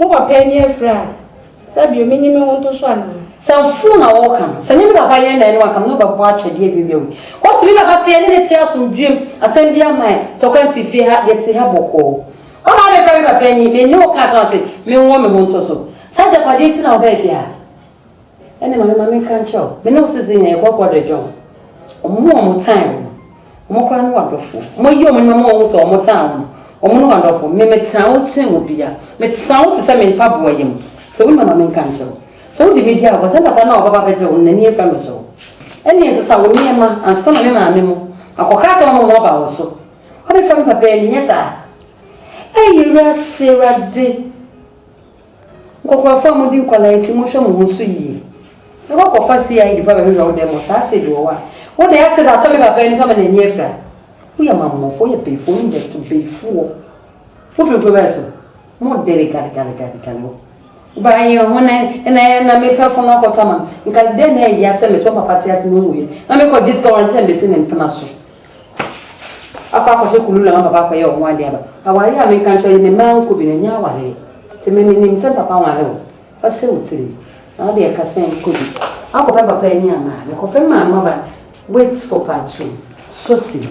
Mowɔ pɛ ne afiri a sɛ bio menye me ho nto so anaa? Sɛ mfoo na wɔka no, sɛ nye me papa yɛn na ɛne wɔaka me ne wo bɛbɔ atwɛdeɛ awiawia wei. Ɔse me papa teɛ ne ne te asomdwoeɛ mu, asɛm biara mma yɛn tɔkwa nsi fie ha, yɛte ha bɔkɔɔ. Ɔna abɛfrɛ me papa ni, menne wo ka asɛm ase, menwɔ me ho nto so. Saa agyapadeɛ nti na wobaa fie ha? Ɛne mame ma menka nkyerɛ wo. Me ne wo sese nyɛ yɛbɔ bɔdɔ dwom. Ɔmo a ɔmo tan wo no, ɔmo koraa ne w'adɔfo. Ɔmo ayi ɔmo nneɛma a ɔmo hu sɛ ɔmo tan wo no, ɔmo ne w'adɔfo. Me, metan wo kyɛn obia. Metan wo te sɛ me mpaboa yam. Sɛ wo nya ma menka nkyerɛ wo. Sɛ wode me di agorɔ, sɛ dada no a wobɛba abɛgye wo no, n'ani mfɛ me so. Ɛne nsesa wo nneɛma ansa na me maame mo akɔ ka akyerɛ wɔn ma wɔaba wo so. Wobɛfa me papa ani, nyɛ saa? Ei, Awurase Awurade! Nkokorafo a mudi nkɔla akyi, monhwɛ mo ho so yie. Mɛkɔ akɔfa CID fo abɛhwehwɛ wo dan mu, ɔtaa acid wɔ hɔ a, wo de acid asɔ me papa ani so ama n'ani afira. Woyɛ Amammɔfoɔ, woyɛ Beefoɔ, woyɛ Nyato Beefoɔ. Wofiri nkuro bɛn so? Mo dere galegalegalegale wo. Ba yɛn ho na na na mepɛ fo no akɔtɔ ama no. Nka dɛn na ɛyɛ sɛ mete wo papa te ase na ɔnwuiɛ, na mekɔgye sika wɔ ne nsam bɛsi ne mpena so. Akɔ akɔhyɛ kulula ma papa akɔyɛ ɔho ade aba. Aware a menka nkyerɛ wo yi me mmaa nkɔ bi no ɛnyɛ awareɛ. Te me menim sɛ papa nware wo. Fa sɛ wo tirim. Na wode ɛka sɛ nkɔ bi. Akɔ pɛ papa ani ama a mekɔ fɛ maa no aba wait for part two. Succeed.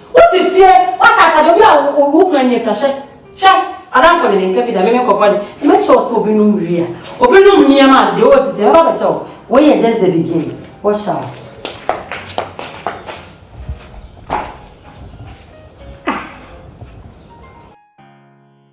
Wote fie, woahyɛ atade, obi a wokura nie fra, hwɛ, hwɛ, adamfo de ne nka bi da, me me nkɔfoɔ de, nti mɛkyɛ wo sɛ obinom wie a, obinom nneɛma a, deɛ ɔwɔ tete mɛba abɛkyɛ wo, wei yɛ just the beginning, watch out.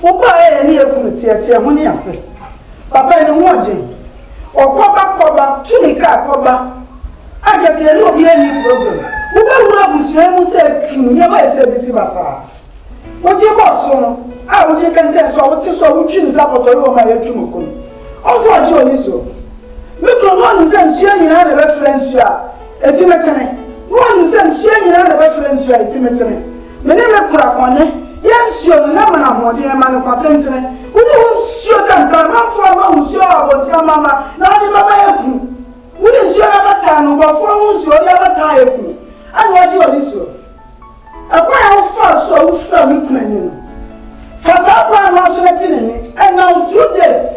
Wo ba a ɛyɛ ne yɛ kunu teɛteɛ ho ne ase. Papa yi ne ho ɔden. Ɔkɔba kɔba tu ne car kɔba. Anka sɛ yɛne obiara nni problem. Wobɛhunu abusua yi mu sɛ kim nneɛma ayɛ sɛ abisi basaa. Wogye bɔ so no a wogye kɛntɛn so a wote so a wotwi nsa pɔtɔyi wɔ ma yɛatwi mo kun. Ɔnso ɔgye ɔni so. Me kunu no ɔnim sɛ nsuo nyinaa na ɛbɛfra nsuo a. Atimetene, na wɔanim sɛ nsuo nyinaa na ɛbɛfrɛ nsuo a atimetene. Me ne me kora kɔne, yɛ nsuo no, na mana ahoɔden ɛma no kwa tentene. Wo ne wo nsuo tantan, mamfoɔ amma wo nsuo wɔ abɔnten amama, na wode bɛma aku. Wo ne nsuo no abɛtaa no, nkurɔfoɔ ho nsuo, wode abɛtaa aku, ɛna woagye w'ani soɔ. Ɛkwan a wofaa so a wofiraa me kunu ani no, fa saa kwan no ara so na ti ne nne, and now two days.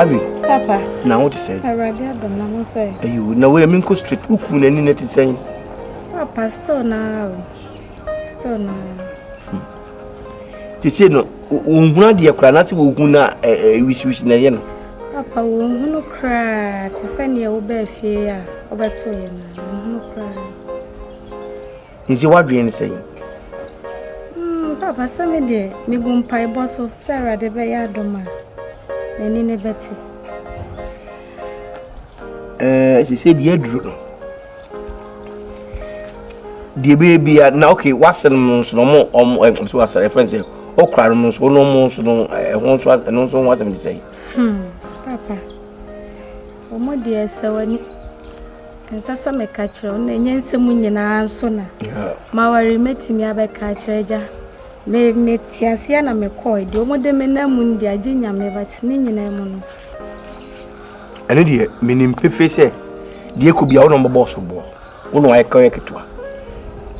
Abi. Papa. Na wo te sɛn? Awurade adom na ho sɛ. Ayo, na wo yɛ me nkɔ street woku n'ani na te sɛn? Papa, still na o. Still na. Sese no, wɔnhunu adeɛ koraa na sɛ wɔhu no a wisiwisi na ɛyɛ no. Papa, wɔnhunu koraa te sɛ neɛ wobaa fie a wobɛtoeɛ no a, wɔnhunu koraa. Nti woadwene ne sɛn? Hmm, papa, sɛ me deɛ megu mpaebɔ so sɛ Awurade bɛyɛ adom a, n'ani ne bɛte. ɛɛ sɛ deɛ aduru no deɛ bɛyɛ bia na ok wasɛn no nso na ɔmo ɔmo ɛm so asɛn ɛfɛn sɛ ɔkura no nso ɔno ɔmo nso no ɛho nso ɛno nso ho asɛm ti sɛ. hmm papa ɔmo deɛ sɛ wɔni nsa sɛ mɛka kyerɛ ɔno na ɛnyɛ nsɛm nyinaa nso na ma wɔre mɛtumi abɛka akyerɛ agya me me te aseɛ na mekɔɔ deɛ ɔmo de me nam mu no deɛ agye nyame but ne nyinaa mu no. Ɛno deɛ menim pefee sɛ deɛ ɛkɔ bia wo na wɔbɛbɔ so boɔ wo na wɔayɛ ka yɛ ketewa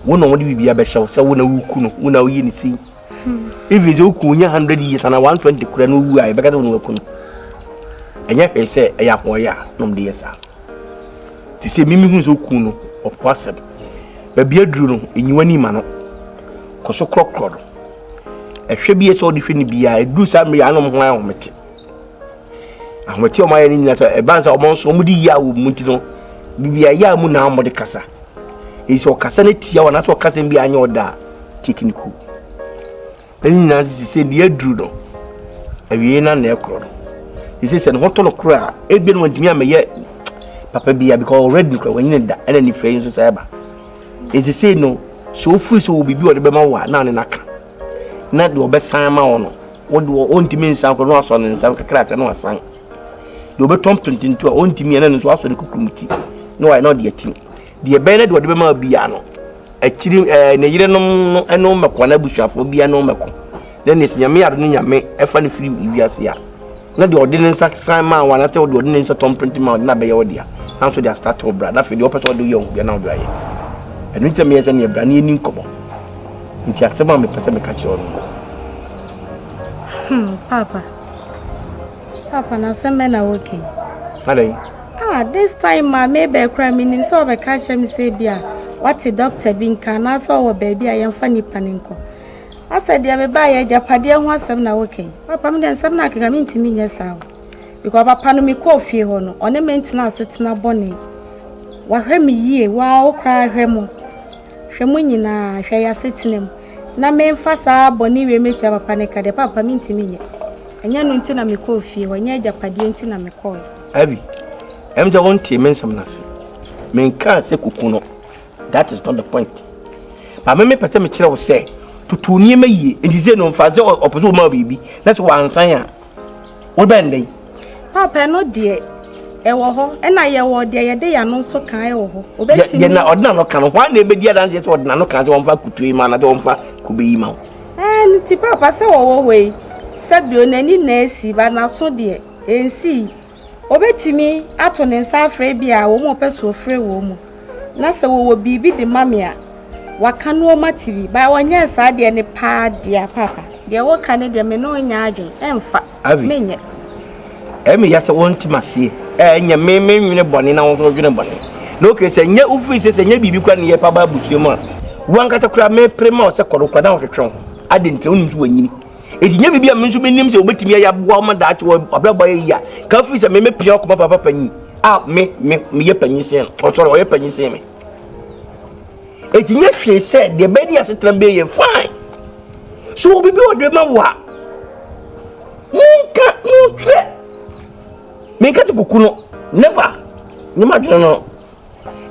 wo na wɔde biribi abɛhyɛ wo sɛ wo na woku no wo na woyɛ ne sei hmm. even sɛ woku nyɛ 100 years anaa 120 kora no wu a yɛbɛka sɛ wo na waku no ɛnyɛ hwee sɛ ɛyɛ ahoɔyɛ a na ɔmde yɛ saa te sɛ mimi hu sɛ woku no ɔpo asɛm baabi aduru no ɛnyiwa ni ma no kɔ so korɔkorɔ no ɛhwɛ bi yɛ sɛ ɔde hwɛ no biaa ɛduru saa mmerɛ anom ho ayɛ homete ahomete a wɔayɛ no nyina sɛ ɛbaa sɛ wɔn nso wɔde yia wɔ mu nti no bibia yɛ a mu na wɔde kasa ɛyi sɛ ɔkasa no tia wɔn anaasɛ ɔkasa bi anyɛ ɔda a take no cool ɛne nyinaa sisi sɛ deɛ aduru no awie na na ɛkorɔ no ɛsɛ sɛ ne ho tɔ no korɔ a ebi no wɔntumi amɛyɛ papa bia because already korɔ wɔnyine da ɛna nifrɛ yi nso sɛ ɛba ɛsɛ sɛ no sɛ ofiri sɛ wɔ biribi a ɔde bɛma wo a na ne naka na deɛ ɔbɛsan ama wo no wode wɔ ɔntumi nsan kɔ na wasɔ ne nsa kakrakra na wasan deɛ ɔbɛtɔ mpententu a ɔntumi ɛna no nso wasɔ ne kukurum ti na wayɛ na ɔde atim deɛ ɛbɛyɛ na deɛ ɔde bɛma biara no akyiri ɛɛ ne yerenom no ɛno mmɛkɔ na abusuafoɔ biara no mmɛkɔ na ne nyame ade no nyame ɛfa no firi wiase a Na deɛ ɔde ne nsa san maa wo anaasɛ ɔde ɔde ne nsa tɔ mprenti maa wo deɛ na abɛyɛ wo dea nanso de astate wo bra na afei deɛ ɔpɛ sɛ ɔde yɛ wo deɛ na ɔde ayɛ ɛno nti sɛ meyɛ sɛ neɛ bra ne ɛni nkɔmmɔ nti asɛm a mepɛ sɛ meka kyerɛ ɔno hmm, papa papa na asɛm bɛ na woke adɛn ah this time ma mebɛ kora menim sɛ ɔbɛka kyerɛ me sɛ bi a wate dɔkta bi nka anaasɛ ɔwɔ baabi a yɛmfa nnipa no nkɔ Ɔsɛ deɛ me baeɛ agyapadeɛ ho asɛm na woka yi? Papa me deɛ nsɛm no akeka mentumi nyɛ saa o. Because papa no mekɔɔ fie hɔ no ɔne me ntena asetena bɔne. Wahwɛ me yie waa wo koraa hwɛ mo hwɛ mo nyinaa hwɛ yɛ asetena mu na memfa saa bɔne wei mɛtua papa no ka deɛ papa mentumi nyɛ. Ɛnyɛ no nti na mekɔɔ fie hɔ ɛnyɛ agyapadeɛ nti na mekɔɔ. Abby, ɛm sɛ wontee me nsɛm no ase. Menkaa sɛ kuku no. That is not the point. Maame mi pɛ sɛ mi kyerɛ wo sɛ tutu nneɛma yie nti sɛ no nfa sɛ ɔpɛ sɛ ɔma wo biribi na sɛ wansan a wobɛn dɛn. Papa no deɛ ɛwɔ hɔ ɛna yɛwɔ deɛ yɛde yɛn ano nso kan ɛwɔ hɔ. Obetumi. Yɛn na ɔde n'ano kan no wɔn na ebedi adanseɛ sɛ ɔde n'ano kan sɛ wɔn fa kutu yi ma anaa sɛ wɔn fa kube yi ma. Ɛɛ ne ti papa sɛ wɔwɔ hɔ yi sɛ bio n'ani na esi ba n'aso deɛ ɛnsi yi. Obetumi ato ne nsa afrɛ ebia a wɔn a ɔpɛ sɛ ɔfrɛ wɔn mu, na sɛ wɔwɔ biribi de ma me a, wɔaka no wɔn ate bi. Baa wɔnyɛɛ saa deɛ ne paa dear paapa. Deɛ woka no deɛ me ne wo nyɛ adwen ɛmfa, menyɛ. Ɛyɛ me ya sɛ wonte maseɛ ɛɛ nyɛ me me nwene bɔne na wo nso wodwene bɔne na okay sɛ nyɛ wo free sɛ sɛ nyɛ biribi kora ne yɛ pa ba abusua mu a wo ankasa kora me pere ma wo sɛ kɔdo kora na wohwetwe wo ho adentɛ wonim so wanyini Enti nyɛ biribi a me nso menim sɛ wobɛtumi ayɛ aboa wo ma daakye wɔ abrabɔ ayɛ yie a ka firi sɛ me mepia ɔkɔma papa panyin a me me meyɛ panyin sen no ɔsɔre ɔyɛ panyin sen me enti nyɛ hwee sɛ deɛ bɛyɛ ne asetena bɛyɛ yɛ fine so wɔ biribi ɔde ma wo a monka montwerɛ menka te kuku no never nyɛ ma adwene no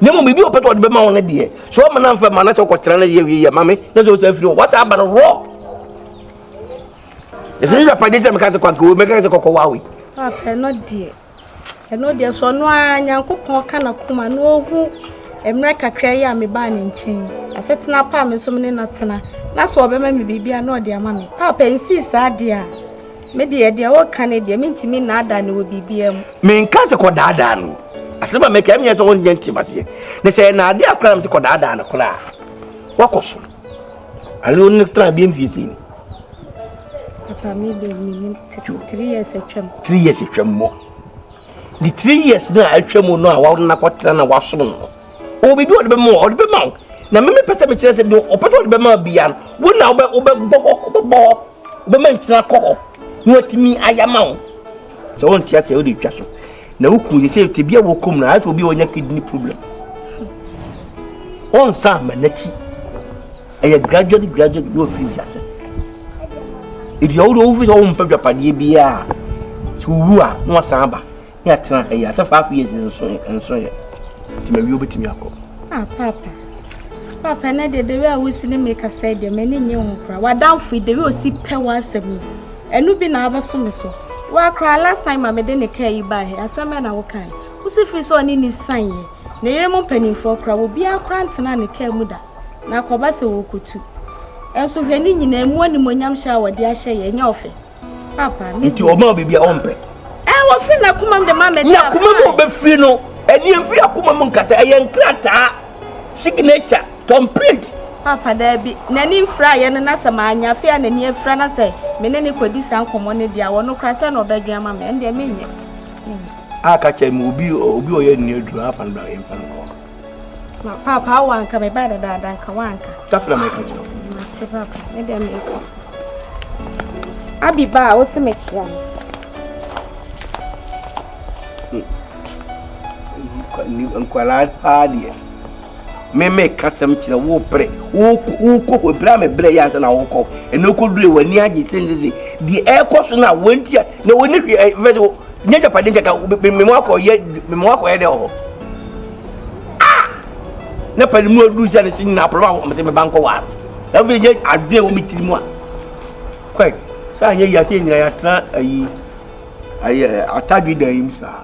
na mmom biribi ɔpɛ sɛ ɔde bɛma wo no deɛ sɛ ɔma no amfa ma na sɛ ɔkɔtena no yɛ wieyɛ ma me na sɛ ɔsa firi hɔ wata aba no rɔ ɛsɛ ne dwapadeɛ sɛ meka sɛ kwanka wei mɛka sɛ kɔkɔ wawe ɛno deɛ ɛno deɛ sɛ ɔno a nyankopɔn ka na koma na ɔhu mmerɛ kakra yi a mebaa ne nkyɛn asetena pa a me nso me ne no atena na sɛ ɔbɛma me biribi a na ɔde ama me paapa nsi saa deɛ a Me deɛ, deɛ woreka no deɛ, mentumi nnaadaa no wɔ biribiara mu. Menka sɛ kɔdaadaa no o. Asɛm a meka, ɛmenyɛ sɛ wonyɛ nte maseɛ. Na sɛ ɛnaade akora na mete kɔdaadaa no koraa a, wakɔ so. Ane wo ne tra bie mfie sei ni. Papa, me deɛ menim three years atwam. Three years atwam mmɔ. The three years na atwam no a wɔna kɔtena na wasom no. Ɔwɔ biribi a ɔde bɛma wo, ɔde bɛma wo. Na me mepɛ sɛ mekyerɛ sɛ deɛ ɔpɛ sɛ ɔde bɛma bia no, wo na wobɛbɔ hɔ, wobɛbɔ hɔ. Wobɛma nkyene akɔ hɔ na watumi ayɛ ama wo. Sɛ wonte aseɛ wode twa so na woku yɛ sɛ tebia wɔkɔm no ayɛ sɛ obi a ɔnya kidney problem ɔnsa ama n'akyi ɛyɛ gradually gradually na ɔfiri wiase ɛdi ɔwode ɔwofi sɛ wompɛ dwapadeɛ biaa sɛ wowu a na wasan aba Yɛatena ha yi after five years nso nso yɛ. Nti ma wie obetumi akɔ. Ah papa. Papa na de de a wosi ne me kasa de me ne nye ho kora. Wadamfo de we osi pɛ w'asɛm yi. Ɛno bi na abɛso me so. Wa kora last time ma me de ne kaa yi baa he asɛm bɛ na wo kan. Wosi firi sɛ ɔne ne san yɛ. Ne yere mo mpanimfoɔ kora wo biara kora ntena ne kaa mu da. Na akɔba sɛ wɔkotu. Ɛnso hwɛ ne nyinaa mu animonyam hyɛ a wɔde ahyɛ yɛ ɛnyɛ ɔfɛ. nti ɔma wo biribi a ɔmpɛ wɔfiri n'akoma mu de ma me n'akoma mu ɔbɛfiri no ɛneɛ mfiri akoma mu nkasa ɛyɛ nkrataa signature tom print papa daabi n'ani mfira yɛ no na sɛ maanya fe a n'ani afira na sɛ me ne ne kɔdi saa nkɔmmɔ no deɛ wɔno kora sɛ na ɔbɛdwen ama me ɛndeɛ menyɛ aka kyɛ mu obi obi ɔyɛ nnuaduru afa no bra yɛmfa no kɔ Ma papa awo anka me ba dadaada nka wanka. Dafra me ka kyerɛ. Ma te papa me dɛ me kɔ. Abi ba a wosi me kyerɛ no. Hmm. Nkwaraa paa deɛ. Me me ka sɛm kyerɛ wo pere. Wo wo kɔ hɔ bra me brɛ yɛ ansa na wo kɔ. Ɛna kɔ dure wɔ ani agye sensese. Deɛ ɛkɔ so na wɔn ti a na wɔn ni hwɛ ɛfɛ nyɛ japade nkɛkɛ mema wakɔyɛ mema wakɔyɛ dɛ wɔ hɔ na pɛne mu aduru sɛ ne se nyina apɔlɔ a wɔmsɛ meba nkɔ waa na afei nyɛ adwene wɔ me tiri mu a kwɛ sɛ anyɛ yi afei nyina yɛatena ayi ayɛ atadwe dan yi mu saa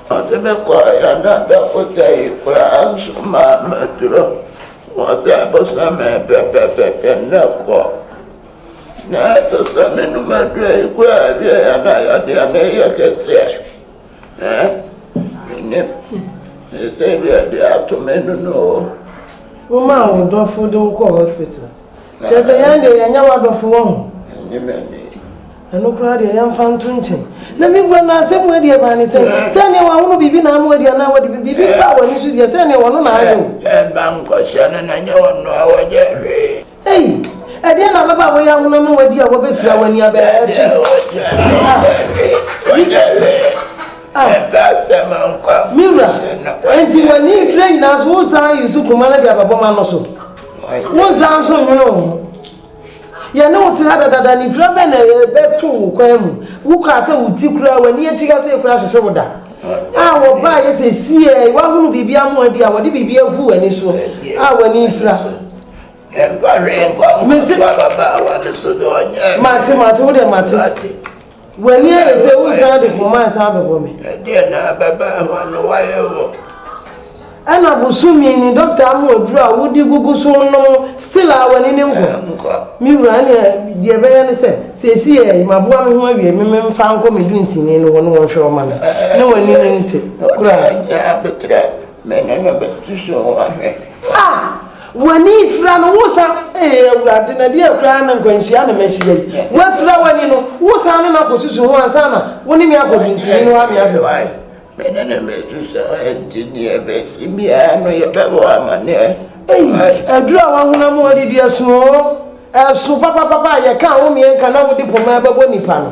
Wɔdze me kɔr hɛn adafo gyae koraa so maa medur hɔ. Wɔdze abosoom mee pɛpɛɛpɛpɛ ndɛ kɔ. Na sesɛ menum edur a eguar a ewie a na yɛdze hɛn eyɛ kɛse ɛ. Ɛɛn, minnyim. Sesei de ebi ato m'enun o. Womaa wo dɔfo dze wo kɔr hospital. Kyerɛ dɛ hɛn de yɛnnyɛ w'adɔfo, wohu? Menye m'enyi. Ɛno koraa deɛ, yɛmfa nto nkyɛn. Na mebua no, asɛm mu adi ɛbaa ne sɛ, sɛ nea wahono biribi na ama wadi anaa wadi biribi baa w'ani so deɛ, sɛ nea wɔno na ayɛ wo. Ɛmma nkɔhyɛ no na nyɛ wɔno a wɔnyɛ hwee. Ei, ɛdeɛn na ababaa a wɔyɛ ahono ama wadi a wɔbɛfira wo ani abɛn akyi? Wɔnyɛ hwee. Ɛmfa asɛm nkɔ a nkɔhyɛ no. Me wura, enti w'ani mfira nyinaa so, wonsan nso koma no de ababɔm ano so? Wonsan nso nnwene wo ho? Yɛne wo te ha dadada, nifira bɛn na ɛbɛto wo kwan mu? Wokura sɛ wo ti koraa, w'ani akyi kasee koraa hyehye wo da. A Wɔbaeɛ sɛ siee, woahunu biribi ama wɔadi a wɔde biribi agu w'ani soɔ a w'ani refira. Mese, mate, mate, wo deɛ mate. W'ani ayɛ sɛ woresan de koma resan abɛbɔ me. Ɛdeɛn na ababaa ho ano wayɛ wo? Ɛna bosome ni dɔkta ama aduru a wode gugu so nom still a w'ani ne nkɔ. Nkɔ. Me wura ɛneɛ deɛ ɛbɛyɛ ne sɛ seesei yɛ maboa me ho awie me memfa nkɔ me dunsini no hɔ ne wɔnhwɛ ɔma me na w'ani ne nte koraa. Ɛnyɛ abeterɛ me ne no bɛsusu ho ahwɛ. Ah! W'ani fira no, wosan, Ee Awurade, na ɛdeɛn koraa na nkwanhyia na mahyia yi? Wafira w'ani no, wosan ne no akɔsusu ho ansa na wo ne me akɔ mfimfini nohoa me ahwɛ wo. Me ne no bɛsu sɛ enti deɛ ɛbɛsi biara no yɛbɛbɔ wo amanneɛ. Ei, aduru a w'ahonam ho adidi ɛso oo, ɛso papapapa a yɛka a wo mmeɛnka na wode poma ɛbɛbɔ nnipa no.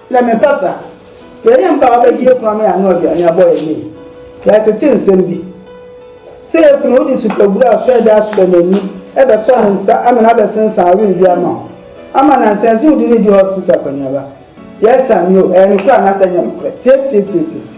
Yɛ me pasa. Yɛ yɛn mpa a wabɛgye yɛ kunu ama yɛano aduane abɔ yɛn ne yɛ. Yɛatete nsɛm bi. Sɛ yɛ kunu wode supabura a sɔe de asɔ n'ani, bɛsɔ ne nsa, amene abɛsensan awer bi ama wo. Ama nansa ɛnso wode no redi hospital akɔneaba. Yes and no, ɛyɛ nokorɛ anaasɛ ɛnyɛ nokorɛ? Tietietietie.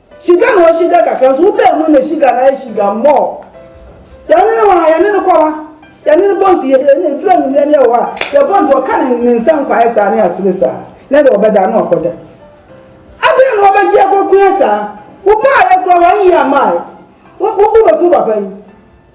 Shiga na ɔshiga kakra nso wobɛɛ mu na shiga na ayɛ shiga more. Yɛne no wɔ ha, yɛne no kɔ ha, yɛne no bɔ nsi, yɛne no firi anwummerɛ ne ɛwɔ ha, yɛbɔ nti ɔka ne, ne nsa nkwaeɛ saa ne asere saa, na deɛ ɔbɛda na ɔkɔda. Adɛn na ɔbɛgye akɔkua saa? Wobaeɛ koraa wanyɛ amae. Wo, wo, wobɛku papa yi.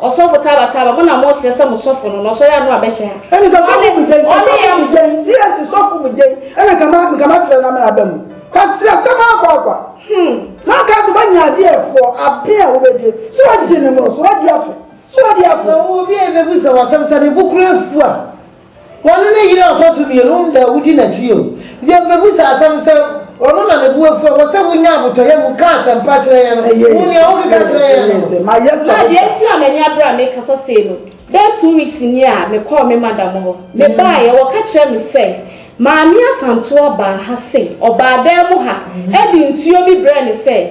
Ɔsɔfo Taba Taba, mo na mosrɛ sɛ mo sɔfo no, na ɔsɔre a na wabɛhyɛ ha. Ɛne ka sɔfo mu gyɛn, ka sɔfo mu gyɛn, CS sɔfo mu gyɛn, ɛne ka ma, nka mafrɛ na mɛaba mu. Kwasi asɛm akɔ akwa. Hmm. Na ɔka sɛ wanya ade a ɛfoɔ, ape a wobɛgye, sɛ wagye ne mmoroso, wadi afe, sɛ wadi afe. Sɛ ɔwɔ obi a ɛbɛbisa wo asɛm, sɛ ne bo kura afu a, Wɔne ne yere ɔfasu mmienu nna a wodi n'akyi o. Yɛbɛbisa asɛm sɛ, Ɔno na ne bo afu a ɛwɔ sɛ wonya abotɔyam mu ka asɛmpa kyerɛ yɛn no? Hu nea wokeka kyerɛ yɛn no. Na deɛ enti a m'ani abere a mekasa sei no, bɛyɛ two weeks nie a mekɔɔ me madam hɔ. Mebaeɛ, wɔka kyerɛɛ me sɛ, Maame Asantewa baa ha sei. Ɔbaa dan mu ha de nsuo bi brɛɛ me sɛ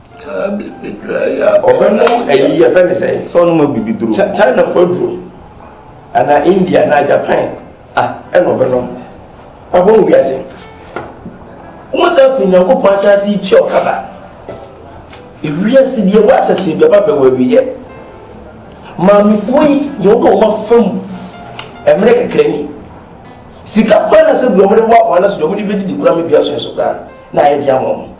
ɔbɛnom ayi yɛfɛ ne sɛ sɛ ɔnom abibi duro chinafoɔ aduro anaa india anaa japan a ɛna ɔbɛnom ɔbɔ mu wiase wo sɛ afei nyankopɔn ahyɛase yi tua ɔkaba ewiase deɛ wɔahyɛse bɛba bɛwɔ awiyɛ maamefoɔ yi deɛ wɔde wɔn afam mmerɛ kakra ni sika koraa na sɛ bi wɔn de wɔ afɔ anaso deɛ wɔn de bɛdidi koraa mebia so nso koraa na ayɛ de ama wɔn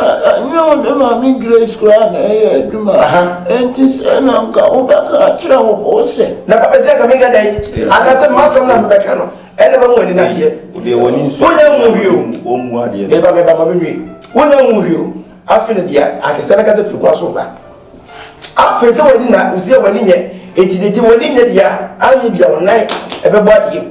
Ɛnyɛ wo ne Maame Grace koraa na ɛyɛ adwuma. Enti sɛ na nka wobɛka akyerɛ wo bo sɛ. Na papa sɛ nka menka dɛn? Anaasɛ m'asɛm na mebɛka no? Ɛnna mɛma wɔn ani ateɛ. Wonnya nhu hwee o. Meba, meba, ma menwie. Wonnya nhu hwee o. Afei na dua akɛseɛ no kata firi kwan so reba. Afei sɛ w'ani na, wo sɛ w'ani nyɛ. Enti deɛ gye w'ani nyɛ deɛ a, anyɛ bi a wo nan bɛbɔ adeɛ mu.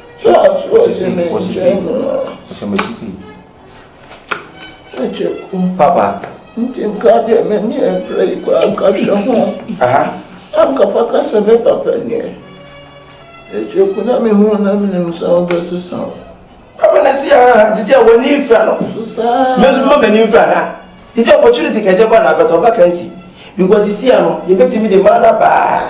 Hwɛ ato a ɔde me nkyɛn mu no. Hyɛ me sisi. Hwɛ kyɛku. Papa. Nti nka deɛ m'ani ɛbrɛ yi kɔ anka hwɛ ho. Aha. Anka fa ka sɛ me papa nie. Ɛkyɛku na me hu na menim sɛ wobɛsesa wo. Papa na si aha sisi a w'ani mfra no. Susaa. Me nso mma m'ani mfra na. Sisi opportunity kɛseɛ kɔ na abɛtɔ ɔba kansi. Because sisi ano yɛbɛtumi de ma no abaa.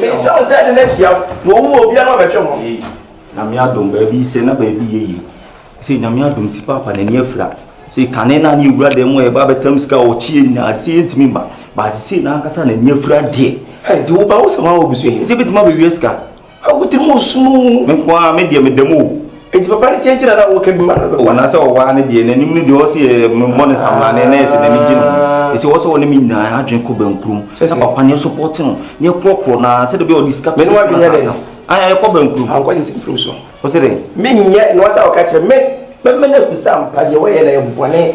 Mensɛ wo tade no ahyia wo na wɔn mu obiara ma bɛtwe ho. Ei, Nyame adom, baabi sɛ na baabi yɛ yie. Sei Nyame adom nti Paapa n'ani afira. Sei kane na ne yɛwura dan mu a yɛba abɛtam sika a ɔkyeɛ nyinaa sei yɛntumi mma. But sei n'ankasa n'ani afira deɛ. Ei, nti woba wo sɛ woawo bi so ɛ, ɛsɛ bɛtumi abɛwia sika. Wo tirim ɔsum oo. Me nko ara me deɛ meda mu oo. Enti papa no kyɛn nti na na ɔwɔ ka bi ma no. Anaasɛ ɔwɔ ara ne deɛ n'anim no deɛ ɔwɔ sɛ yɛ mebɔ ne samlane na yɛ sɛ n'ani gye no ho. Ɛsɛ ɔwɔ sɛ ɔne me nyinaa adwene kɔ bankurom na papa no yɛ sɔpɔte no na yɛ korɔkorɔ no ara sɛdeɛ ɛbɛyɛ ɔde sika Me ne w'adwene yɛ dɛn? Ae yɛkɔ bankurom. Ankɔ sɛ sɛ mfiri so. Wo se dɛn? Menyɛ na wasa ɔka kyerɛ me. Mɛma no ahu sɛ ampa deɛ wɔyɛ no ɛyɛ bɔne.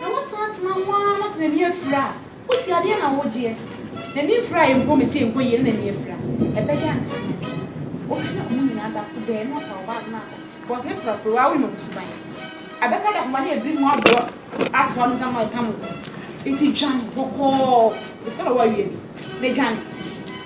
Na wosan tena ho ara na sɛ n'ani afira a, wosi adeɛ na wogyeɛ. N'ani mfira a yɛnkɔ mesi yɛnkɔ yie na n'ani afira. Ɛbɛyɛ a nka nyɛ den. Wohwɛ na ɔmo nyinaa da ko dɛɛ na ɔfa wo bag no akɔ because ne prapra waa wonim ɔmo suban. Ɛbɛka da koma ne abiri mu aboa atoa no nsa ma ɛka mo ho. Nti dwane bɔkɔɔ. Mr. Lawyer woawie? Medwane?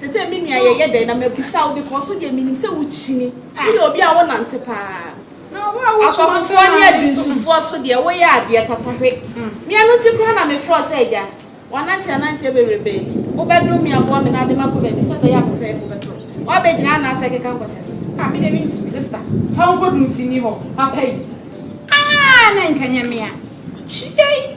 Sesei me nua yɛyɛ dɛn na mabisa wo because wo deɛ menim sɛ wo kyini, wo yɛ obi a wo nante paa. Asɔfofoɔ ne adwinsufoɔ so deɛ wo yɛ adeɛ tatahwe. Me ɛno nti koraa na me frɛ wo sɛ agya, wanante ananteɛ bebrebe, wo bɛ dom me aboa me na ade makɔ baabi sɛ bɛyɛ a papa yi ho bɛtɔ me. Wa bɛ gyina anaa sɛ keka nkɔsɛ so. Ah me deɛ me ntumi Esther, fa wo nkɔ dunsini hɔ papa yi, ah na nka nyɛ me a, hwi ei.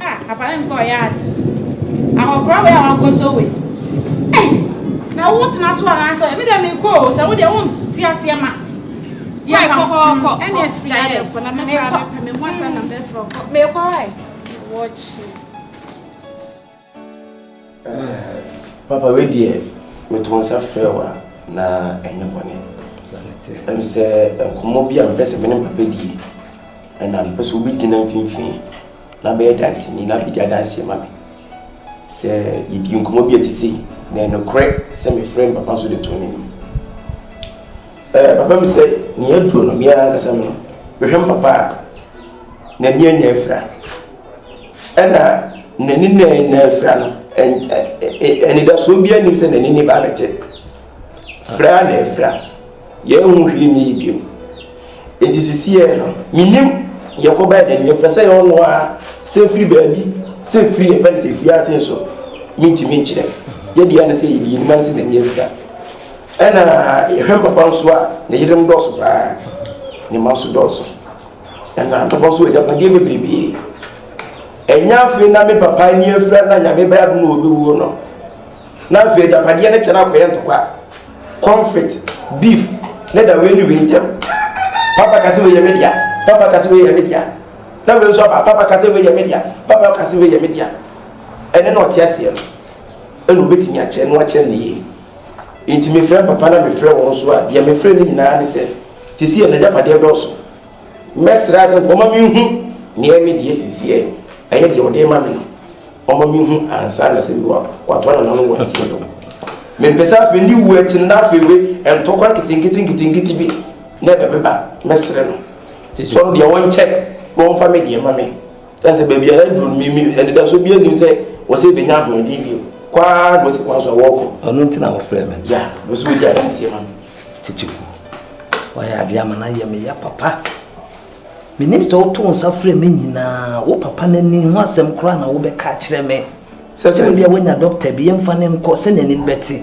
Ah papa na mesɛ ɔyɛ ade. Ahokora wei a wakɔ so wei. Ei na wo tena so anaasɛ ɔyɛ me deɛ me kɔ o sɛ wo deɛ wo nti aseɛ ma. Yɛ kɔ kɔ kɔ ɛne ɛfia yɛ kɔ na me kɔ me ho asɛ na me frɔ kɔ. Me kɔ ai. Wɔkyi. Papa wei deɛ meto nsa frɛ wo a na ɛnyɛ bɔne ɛm sɛ nkɔmmɔ bi a mepɛ sɛ me ne papa die ɛna mepɛ sɛ wobɛgyina mfimfini na bɛyɛ danseni na bɛdi adanseɛ ma me sɛ yɛdi nkɔmmɔ bi a ɛte sei na ɛnokorɛ sɛ mefrɛ me papa nso de too n'anim papa mi sɛ nea aduro no meɛ ankasa no mehwɛ me papa a N'ani anya afira. Ɛna n'ani na anya afira no, anidasoɔ biara nim sɛ n'ani ne ba no gye. Fra na afira. Yɛnhu hwee nyɛ yi bio. Enti sisiɛ no, menim yɛkɔba n'ani afira sɛ yɛwɔ no a sɛ firi baabi sɛ firi yɛfɛ no sɛ fie ase nso mentumi nkyerɛ. Yɛde yɛ ne sɛ yɛde yɛnim ase n'ani afira. Ɛna yɛhwɛ mpapa nso a ne yerem dɔɔso paa, ne mma nso dɔɔso. Ɛna atɔbɔ so agyapadeɛ bebrebee. Ɛnyɛ afei na me papa ani afira na nyame bɛyɛ adom na ɔbɛwuo no. Na afei agyapadeɛ no kyɛ no akɔyɛ ntɔkwa, conflict, beef ne da wei ne wei ntam. Papa ka sɛ wei yɛ me dea, papa ka sɛ wei yɛ me dea. Na wei nso aba, papa ka sɛ wei yɛ me dea, papa ka sɛ wei yɛ me dea. Ɛne na ɔte aseɛ no, ɛna ɔbɛtumi akyɛ na wakyɛ no yie. Enti mefrɛɛ papa na mefrɛɛ wɔn nso a, deɛ mefrɛɛ no nyinaa ne sɛ, Seesei yɛ n'agyapadeɛ dɔɔso. Mɛsrɛ ara sɛ wɔmma menhu nea me deɛ seesei ɛyɛ deɛ ɔde rema me no. Wɔmma menhu ansa na sɛ Yehowa watoa no n'ano wɔ aseɛ no. Mempɛ sɛ afei ne wuo akyi no na afei wei ntɔkwa nketenkete nketenkete bi na ɛbɛba. Mɛsrɛ no sɛ ɔno deɛ ɔnkyɛ na ɔmfa me deɛ mma me. Na sɛ baabi a yɛaduru no, me, me, anidaso biara nnim sɛ wɔsɛ yɛbɛnya ahoɔden bio. Kɔ ara na wɔsi kwan so a wɔrekɔ. Ɔno nti na wɔfrɛ me. Ya, wɔsɛ wɔdi adanseɛ ma me. Tete ku, wɔayɛ adeɛ ama no ayɛ me ya papa. Menim sɛ woto nsa frɛ me nyinaa, wo papa no ani ho asɛm koraa na wobɛka akyerɛ me. Sɛ sɛ. Sɛ bia woanya dɔkta bi, yɛmfa no nkɔ sɛnea ani no bɛte.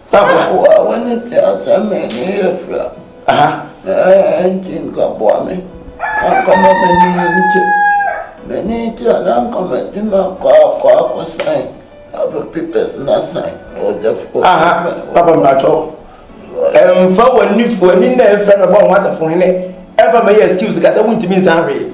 Aboa a wɔne teasɛm m'ani yɛ fira. Ɛnti nka boa me anka ma m'ani nte. M'ani te a na anka madi m'akɔ akɔ akɔsan afa papers na asan ɔdɛfoɔ. Papa mmatɔ ɛmfa w'ani fo ani na ɛfira na bɔ ho asafo hene ɛmfa mɛyɛ excuse ka sɛ wontumi nsan hwee.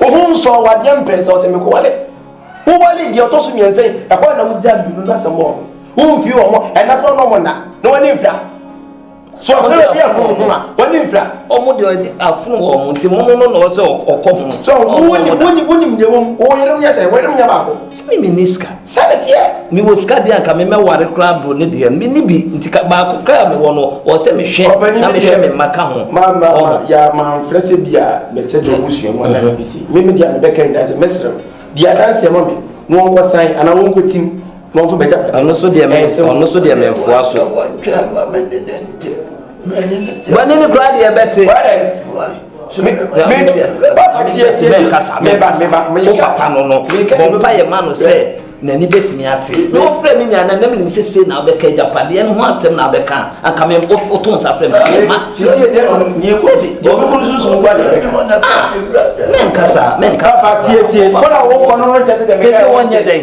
Wo ho nsɔɔ wo adeɛ mprɛnsa ɔsɛ mekɔ wale Wo wale deɛ ɔtɔ so mmiɛnsa yi ɛhɔ na wo gya mmienu no asɛm wɔ Wo mfiri wɔn ɛna korɔ na ɔmo nna na wani mfira So ɔsɛ obi ɛho ho a wani mfira Ɔmo deɛ afono wɔ ɔmo nti momo no na ɔsɛ ɔkɔ ho So wo wonim deɛ ɛwɔ mu wo yere ho yɛ sɛ wo yere ho yɛ baako Sɛ me menni sika. Sɛ me teɛ me wɔ sika deɛ anka me mɛ ware koraa bro ne deɛ me ni bi nti ka baako koraa me wɔ no wɔ sɛ me hwɛ na me hwɛ me mma ka ho. Ma ma ma ya ma nfrɛ sɛ bi a me kyɛ deɛ ɔmo sua mu ana me si me me deɛ me bɛ ka nyinaa sɛ me srɛw bi a san seɛ ma me na wɔn kɔ san ana wɔn kɔ tim na wɔn fo bɛ gya pɛ. Ɔno so deɛ me ɔno so deɛ me nfoa so. Bɔ ne ne koraa deɛ bɛ te. papa no no bɔmpa yɛ ma no sɛ n'ani bɛtumi ate na wɔfrɛ me nua na nam nim sɛ sei na wobɛka agyapadeɛ no ho asɛm na wobɛka anka me woto nsa frɛ mema menkasa menkasa kɛsɛ wɔnyɛ dɛn